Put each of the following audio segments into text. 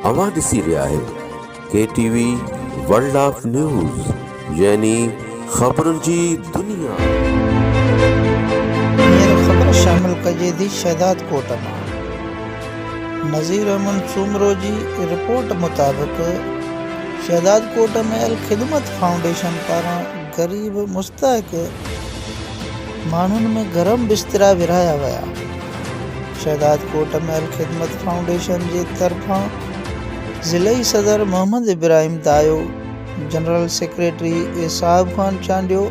اوهان ڏسي رهيا آهيو K T V world of news يعني خبرن جي دنيا. هينئر خبر شامل ڪجي ٿي شهدادڪوٽ مان. نظير احمد سومرو جي رپورٽ مطابق شهدادڪوٽ ۾ الخدمت فائونڊيشن پاران غريب مستحق. ماڻهن ۾ گرم بسترا ورهايا ويا. شهدادڪوٽ ۾ الخدمت فائونڊيشن جي طرفان ضلعي صدر محمد ابراهيم دايو، جنرل سيڪريٽري ايساحب Khan Chandio,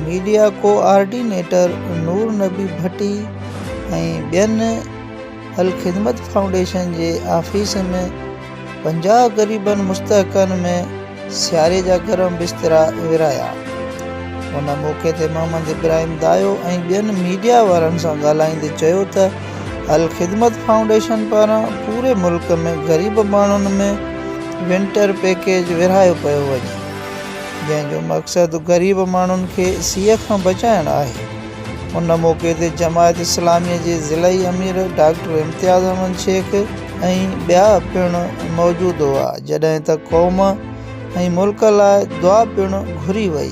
media coordinator Noor Nabi ڀٽي ۽ ٻين الخدمت فائونڊيشن جي آفيس ۾ پنجاهه غريبن مستحقن ۾ سياري جا گرم بسترا ورايا. ان موقعي تي محمد ابراهيم دايو ۽ ٻين ميڊيا وارن سان ڳالهائيندي چيو ته الخدمت فائونڊيشن پاران پوري ملڪ ۾ غريب ماڻهن ۾ ونٽر پيڪيج ورهايو پيو وڃي جنهن جو مقصد غريب ماڻهن کي سيء کان بچائڻ آهي. ان موقعي تي جماعت اسلامي جي ضلعي امير ڊاڪٽر امتياز احمد شيخ ۽ ٻيا پڻ موجود هئا جڏهن ته قوم ۽ ملڪ لاء دعا پڻ گهري وئي.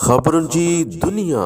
خبرن جي دنيا.